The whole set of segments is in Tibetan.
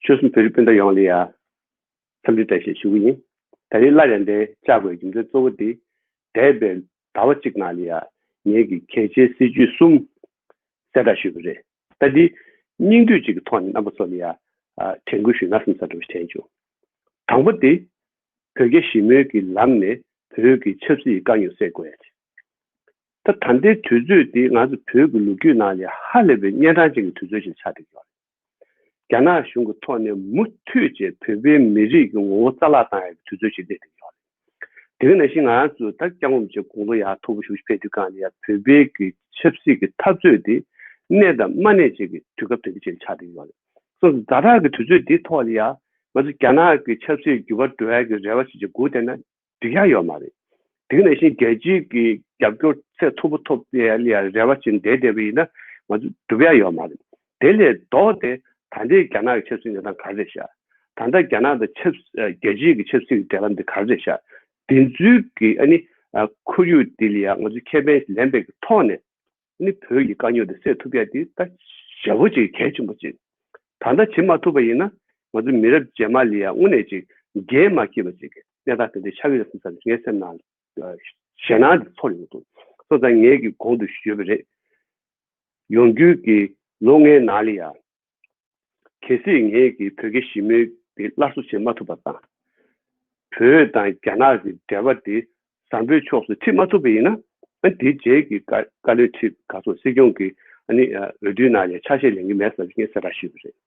ཆོལ་གསུམ་བོད་རིགས་སྤུན་ཟླ་ཡོངས་ལ་ཡང་འཚམས་འདྲི་བཀྲ་ཤེས་ཞུ་གི་ཡིན། ད་རེས་སླར་ཡང་འདི་བཅའ་དགོས་རྒྱུ་མཚན་གཙོ་བོ་དེ། འདས་པའི་ཟླ་བ་གཅིག་ནང་ལ་ཡང་ངེད་ཀྱི་གལ་ཆེའི་སྲིད་བྱུས་གསུམ་གསལ་བསྒྲགས་ཞུས་པ་རེད། ད་འདི་སྙིང་བསྡུས་གཅིག་གི་ཐོག་ནས་རྣམ་པ་ཚོ་ལ་ཡང་དྲན་སྐུལ་ཞུས་ན་སེམས་ཚབ་འདྲ་བོ་བྱས་བྱུང། དང་པོ་དེ། བོད་རྒྱ་ཞི་མོལ་གྱི་ལམ་ནས་བོད་ཀྱི་ཆབ་སྲིད་དཀའ་རྙོག་སེལ་དགོས་ཡ་རེད། ད་ད་ལྟའི་དུས་ཚོད་འདི་ང་ཚོ་བོད་ཀྱི་ལོ་རྒྱུས་ནང་ལས་ཧ་ལས་པའི་གཉན་འཕྲང་ཅན་གྱི་དུས་ཚོད་ཅིག་ཆགས་བསྡད་ཡོད། རྒྱ་ནག་གཞུང་གི་ཐོག་ནས་མུ་མཐུད་ཅེས་བོད་པའི་མི་རིགས་ཀྱི་ངོ་བོ་རྩ་བརླག་བཏང་ཡོད་པའི་དུས་ཚོད་ཅིག་བསྡད་བསྡད་ཡོད། དེ་ག་ནང་བཞིན་ང་ཚོས་ད་སྐྱག་ངོམ་བྱེད་དགོངས་དོ་ཡག་མཐོ་པོ་ཞུ་ཕེབས་དུས་གང་ལྟར་ཡང་བོད་པའི་གི་ཆབ་སྲིད་ཀྱི་འཐབ་རྩོད་འདི་གནས་དང་མ་གནས་བྱེད་ཀྱི་དུས་སྐབས་དོན་ཆེན་ཅིག་ཆགས་བསྡད་ཡོད། སོ་སོ་ཛ་དྲག་གི་དུས་ཚོད་འདི་ཐོག་ལ་ཡང་ང་ཚོ་རྒྱ་ནག་གི་ཆབ་སྲིད་བརྒྱུད་པ་འགྲོ་ཡག་གི་རེ་བ་ཞིག་ཅིག་སྒུག་བསྡད་ན་སྒྲིག་ཡག་ཡོད་མ་རེད། དེང་ནང་བཞིན་རྒྱལ་སྤྱིའི་གི་རྒྱབ་སྐྱོར་ཚད་མཐོ་པོ་ཐོབ་ཡ་ལི་ཡ་རེ་བ་བྱིན་བསྡད་བསྡད་པ་ཡིན་ན་ང་ཚོ་སྒྲུབ་ཡག་ཡོད་མ་རེད། དེ་ལས་ལྡོག་སྟེ་ད་འདྲའི་རྒྱ་ནག་གི་ཆབ་སྲིད་ཉོ་སྟངས་ག་རེ་ཤག་ད་ལྟ་རྒྱ་ནག་དང་ཆབ་རྒྱལ་སྤྱིའི་གི་ཆབ་སྲིད་གི་འབྲེལ་བ་འདི་ག་རེ་ཤག་དེ་ཚུལ་གི་ཨ་ནི་ཁོར་ཡུག་འདི་ལི་ཡ་ང་ཚོ་ཁེ་ཕན་ལེན་པའི་གི་ཐོག་ནས་ནི་བོད་ཀྱི་དཀའ་རྙོག་དེ་སེལ་ཐུབ་ཡག་དེ་ད་ཞལ་བོ་ཅིག་གལ་ཆེན་པོ་གཅིག་ད་ལྟ་བྱེད་མ་ཐུབ་པ་ཡིན་ན་ང་ཚོ་མི་རབས་རྗེས་མ་ལས་ཡང་དངོས་གནས་ཅིག་རྒྱལ་མ་སྐྱེས་པ་ཅིག་གི་གནས་སྟངས་དེ་འདྲའི་ཆགས་ཀྱི་རེད་བསམ་ས་ངའི་སེམས་ནང་ཞེད་སྣང་དེ་ཚོར་ཡོང་འདུག་སོང་ཙང་ངས་ཀྱི་གོང་དུ་ཞུས་པ་རེད། ཡོང་རྒྱུའི་ལོ་ལྔའི་ནང་ལས་ཡང། གལ་སྲིད་ངས་ཀྱིས་བོད་ཀྱི་ཞི་མོལ་དེ་སླར་གསོ་བྱེད་མ་ཐུབ་པ་དང། བོད་དང་རྒྱ་ནག་གི་འབྲེལ་བ་དེ་བཟང་པོའི་ཕྱོགས་སུ་འཁྲིད་མ་ཐུབ་པ་ཡིན་ན། དེའི་རྗེས་ཀྱི་བཀའ་བློན་ཁྲི་ག་སོགས་སྲིད་སྐྱོང་གི་འོས་བསྡུའི་ནང་ནས་ཆ་ཤས་ལེན་གྱི་མེད་ཟེར་བ་ངས་གསལ་བསྒྲགས་ཞུས་པ་རེད།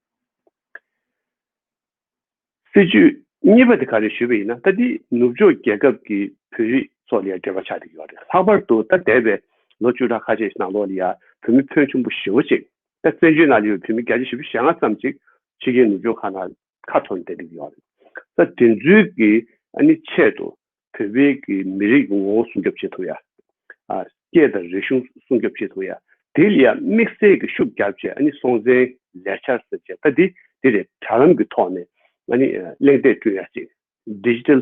སྲིད་ཇུས་གཉིས་པ་དེ་ག་རེ་ཞུས་པ་ཡིན་ན་ད་འདི་ནུབ་ཕྱོགས་རྒྱལ་ཁབ་ཀྱི་བོད་རིགས་ཚོ་ལ་འབྲེལ་བ་ཆགས་ཀྱི་ཡོད་རེད་ལྷག་པར་དུ་ད་འདས་པའི་ལོ་བཅུ་ཕྲག་ཁ་ཤས་ནང་ལོགས་ལ་ཡ་བོད་མི་ཕོན་ཆུང་པོ་བཞི་བོ་ཅིག་ད་བཙན་བྱོལ་ནང་ལ་ཡོད་བོད་མི་བརྒྱ་ཆ་བཞི་བཅུ་ཞེ་ལྔ་ཙམ་ཅིག་ཕྱི་རྒྱལ་ནུབ་ཕྱོགས་ཁག་ནང་ཁ་འཐོར་ནས་བསྡད་ཀྱི་ཡོད་རེད་ད་དེ་ཚོའི་གི་ཨ་ནི་ཆེད་དུ་བོད་པའི་གི་མི་རིགས་ངོ་བོ་སྲུང་སྐྱོབ་བྱེད་ཐུབ་ཡ། ཨ། སྐད་དང་རིག་གཞུང་སྲུང་སྐྱོབ་བྱེད་ཐུབ་ཡ། དེ་ལ་ཡ་དམིགས་བསལ་གི་ཤུགས་རྒྱབ་བྱས་ཨ་ནི་སྲོང་བཙན་ལས་འཆར་ཟེར་བྱས་ད་དེ་དེ་རེད་དྲ་ལམ་གི་ཐོག་ནས་ཨ་ནི་གླེང་སྟེགས་བསྐྲུན་ཡ་ཅིག Digital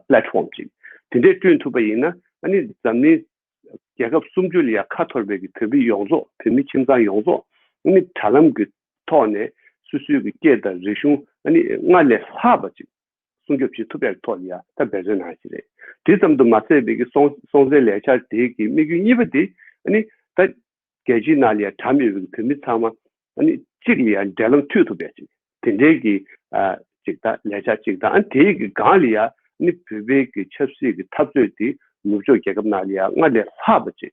Platform ཅིག་དེ་འདྲས་བསྐྲུན་ཐུབ་པ་ཡིན་ན་ཨ་ནི་འཛམ་གླིང་རྒྱལ་ཁབ་སུམ་ཅུ་ལ་ཡ་ཁ་འཐོར་བའི་གི་བོད་མི་ཡོངས་རྫོགས་བོད་མི་ཁྱིམ་ཚང་ཡོངས་རྫོགས་ཨ་ནི་དྲ་ལམ་གི་ཐོག་ནས་སུ་སུའི་གི་སྐད་དང་རིག་གཞུང་ཨ་ནི་སྔར་ལས་ལྷག་པ་ཅིག་སྲུང་སྐྱོབ་བྱེད་ཐུབ་པའི་ཐོག་ཡང་དག་འབད་བརྩོན་གནང་བ་ཞིག་རེད། དེ་ཙམ་དུ་མ་ཟད་བོད་ཀྱི་སྲོང་བཙན་ལས་འཆར་དེ་གི་དམིགས་ཡུལ་གཉིས་པ་དེ་ནི་ད་རྒྱལ་སྤྱིའི་ནང་ལས་གྲྭ་མེད་པའི་བོད་མི་ཚང་མ་གཅིག་ལ་ཡང་འབྲེལ་ལམ་མཐུད་ཐུབ་པའི་དེ་འབྲེལ་གྱི་ཅིག་དང་ལས་འཆར་ཅིག་དང་དེ་ཡི་གི་སྒང་ལ་ཡང་བོད་པའི་གི་ཆབ་སྲིད་ཀྱི་འཐབ་རྩོད་དེ་ནུབ་ཕྱོགས་རྒྱལ་ཁབ་ནང་ལ་ཡང་སྔར་ལས་ལྷག་པ་ཅིག་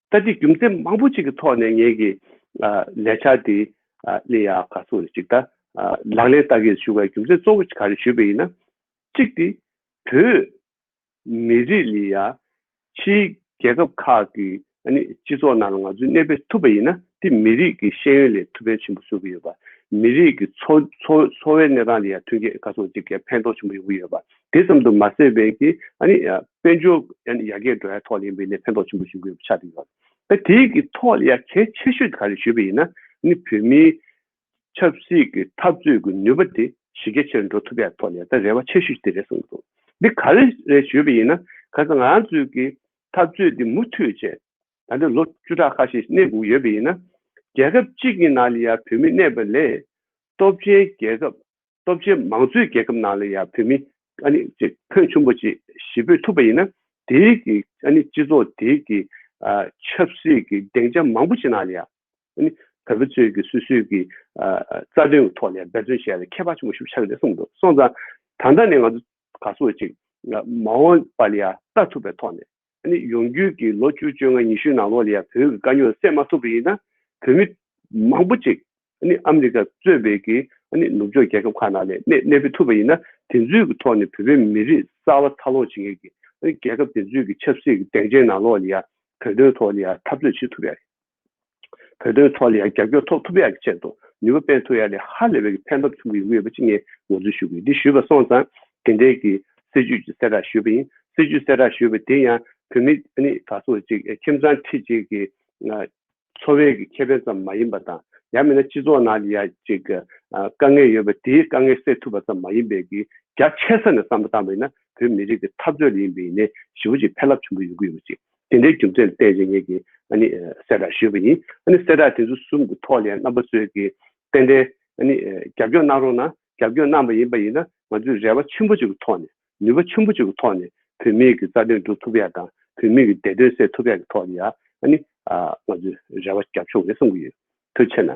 ད་ལྟའི་རྒྱུ་མཚན་མང་པོ་ཅིག་གི་ཐོག་ནས་ངེད་ཀྱི་ལས་འཆར་འདི་གླེང་ཡག་ག་ཚོད་རེད་ཅིག་ལྟ། ལག་ལེན་བསྟར་གྱི་ཞུ་བའི་རྒྱུ་མཚན་གཙོ་བོ་ག་རེ་ཞུས་པ་ཡིན་ན། གཅིག་དེ་བོད་མི་རིགས་ལས་ཡ་ཕྱིའི་རྒྱལ་ཁབ་ཁག་གི་སྤྱི་ཚོགས་ནང་ལ་ང་ཚོས་གནས་སྤོས་ཐུབ་པ་ཡིན་ན་དེ་མི་རིགས་ཀྱི་ཤེས་ཡོན་ལས་ཐུགས་ཕན་ཆེན་པོ་བཟོ་གི་ཡོད་པ། མི་རིགས་ཀྱི་འཚོ་བའི་གནས་སྟངས་ལ་ཡང་ཐོན་སྐྱེད་ག་ཚོད་ཅིག་གི་ཕན་ཐོགས་ཆེན་པོ་ཡོང་གི་ཡོད་པ་དེ་ཙམ་དུ་མ་ཟད་པའི་གི་དཔལ་འབྱོར་ཡར་རྒྱས་འགྲོ་བའི་ཐོག་ལ་ཡིན་པས་ནས་ཕན་ཐོགས་ཆེན་པོ་ཞིག་འགོད་པ་ཆགས་ཀྱི་ཡོད། ད་དེའི་གི་ཐོག་ལ་ཡར་གལ་ཆེ་ཤོས་དེ་ག་རེ་ཞུས་པ་ཡིན་ན་ནི་བོད་མིའི་ཆབ་སྲིད་ཀྱི་འཐབ་རྩོད་ཀྱི་ནུས་པ་དེ་གཞི་རྒྱ་ཆེ་རུ་འགྲོ་ཐུབ་པའི་ཐོག་ལ་ད་རེ་བ་ཆེ་ཤོས་ཞིག་དེ་རེད་གསུངས་ཀྱི་འདུག་འདི་ག་རེ་རེད་ཞུས་པ་ཡིན་ན་ག་ཚོད་ང་ཚོས་ཀྱི་འཐབ་རྩོད་དེ་མུ་མཐུད་བྱས་ད་ལོ་བཅུ་ཕྲག་ཁ་ཤས་གནས་འགུག་ཡོད་པ་ཡིན་ན་རྒྱལ་ཁབ་གཅིག་གི་ནང་ལ་ཡང་བོད་མི་གནས་པ་ལས་སྟོབས་ཆེན་རྒྱལ་ཁབ་སྟོབས་ཆེན་མང་གཙོའི་རྒྱལ་ཁབ་ནང་ལ་ཡང་བོད་མི། ཨ་ནི། ཕོན་ཆུང་པོ་ཅིག་ཞི་འབོད་ཐུབ་པ་ཡིན་ན། དེ་རིགས་ཀྱི་ཨ་ནི། སྤྱི་ཚོགས་དེ་གི། ཆབ་སྲིད་ཀྱི་སྡེངས་ཆ་མང་པོ་ཅིག་ནང་ལ་ཡང། ཨ་ནི། བོད་པ་ཚོས་ཀྱི་སུད་སུད་ཀྱི། རྩ་དོན་གྱི་ཐོག་ལ་ཡང་འབད་བརྩོན་བྱས་ལ་ཁྱད་པར་ཆེན་པོ་ཞུགས་ཆགས་ཀྱི་རེད་གསུངས་འདུག་སོང་ཙང། ད་ལྟ་ནས་ང་ཚོ་ག་ཚོད་ཅིག། མ་འོངས་པ་ལ་ཡང་ལྟ་ཐུབ་པའི་ཐོག་ནས། ཨ་ནི་ཡོང་རྒྱུས་ཀྱི་ལོ་བཅུ་བཅོ་ལྔ་ཉི་ཤུའི་ནང་ལོགས་ལ་ཡང་བོད་ཀྱི་དཀའ་རྙོག་སེལ་མ་ཐུབ་པ་ཡིན་ན་བོད་མི་མང་པོ་ཅིག་ཨ་ནི་ཨ་མི་རི་ཀ་གཙོས་པའི་ཀྱི་ཨ་ནི་ནུབ་ཕྱོགས་རྒྱལ་ཁབ་ཁག་ནང་ལས་གནས་གནས་སྤོས་ཐུབ་པ་ཡིན་ན་དེ་ཚོའི་ཀྱི་ཐོག་ནས་བོད་པའི་མི་རིགས་གསར་བ་འཚར་ལོངས་བྱེད་མཁན་ཀྱི་ཨ་ནི་རྒྱལ་ཁབ་དེ་ཚོའི་ཀྱི་ཆབ་སྲིད་ཀྱི་གདེང་ཆའི་ནང་ལོགས་ལ་ཡང་བོད་དོན་ཐོག་ལ་ཡང་འཐབ་རྩོད་བྱེད་ཐུབ་པ་ཡང་རེད། བོད་དོན་ཐོག་ལ་ཡང་རྒྱབ་སྐྱོར་འཐོབ་ཐུབ་ཡག་གི་ཆེད་དུ་ནུས་པ་སྤེལ་ཐུབ་ཡག་ལས་ཧ་ལས་པའི་གི་ཕན་ཐོབ་ཐུབ་ཀྱི་ཡོང་གི་ཡོད་པ་ཅིག་ངས་ངོ་སྩོལ་ཞུ་གི་ཡིན་འདི་ཞུས་པ་སོང་ཙང་དེ་འབྲེལ་གི་སྲིད་བྱུས་ཀྱི་གསལ་བསྒྲགས་ཞུས་པ་ཡིན་སྲིད་བྱུས་གསལ་བསྒྲགས་ཞུས་པ་དེ་ཡང་བོད་མི་ནི་ག་ཚོད་ཅིག་ཁྱིམ་ཚང་ཁྲི་གཅིག་གི་འཚོ་བའི་གི་ཁེ་ཕན་ཙམ་མ་ཡིན་པ་དང་ཡང་མིན་ན་སྤྱི་ཚོགས་ནང་ལ་ཡང་ཅིག་དཀའ་ངལ་ཡོད་པ་དེའི་དཀའ་ངལ་སེལ་ཐུབ་པ་ཙམ་མ་ཡིན་པའི་གི་རྒྱ་ཆེ་ས་ནས་བསམ་བློ་བཏང་བ་ཡིན་ན་བོད་མི་རིགས་གི་འཐབ་རྩོད་ལ་ཡིན་པའི་ནས་ཞི་བོ་ཅིག་ཕན་རླབས་ཆེན་པོ་ཡོང་གི་ཡོད་པ་ཅིག་དེ་འདྲའི་རྒྱུ་མཚན་བལྟས་རྗེས་ངེད་ཀྱིས་གསལ་བསྒྲགས་ཞུས་པ་ཡིན། གསལ་བསྒྲགས་དེ་ཚོ་གསུམ་གྱི་ཐོག་ནས་རྣམ་པ་ཚོས་ཀྱིས་ཏན་ཏན་རྒྱབ་སྐྱོར་གནང་རོགས་གནང། རྒྱབ་སྐྱོར་གནང་པ་ཡིན་པ་ཡིན་ན་ང་ཚོས་རེ་བ་ཆེན་པོ་ཅིག་གི་ཐོག་ནས་ནུས་པ་ཆེན་པོ་ཅིག་གི་ཐོག་ནས་བོད་མིའི་གྱི་རྩ་དོན་སྒྲུབ་ཐུབ་ཡག་དང་བོད་མིའི་གྱི་བདེ་དོན་སེལ་ཐུབ་ཡག་གི་ཐོག་ནས་ཡང་ང་ཚོས་རེ་བ་རྒྱབ་ཆོག་རེད་བསམ་གྱི་ཡོད། དེ་ཕྱིར་ན།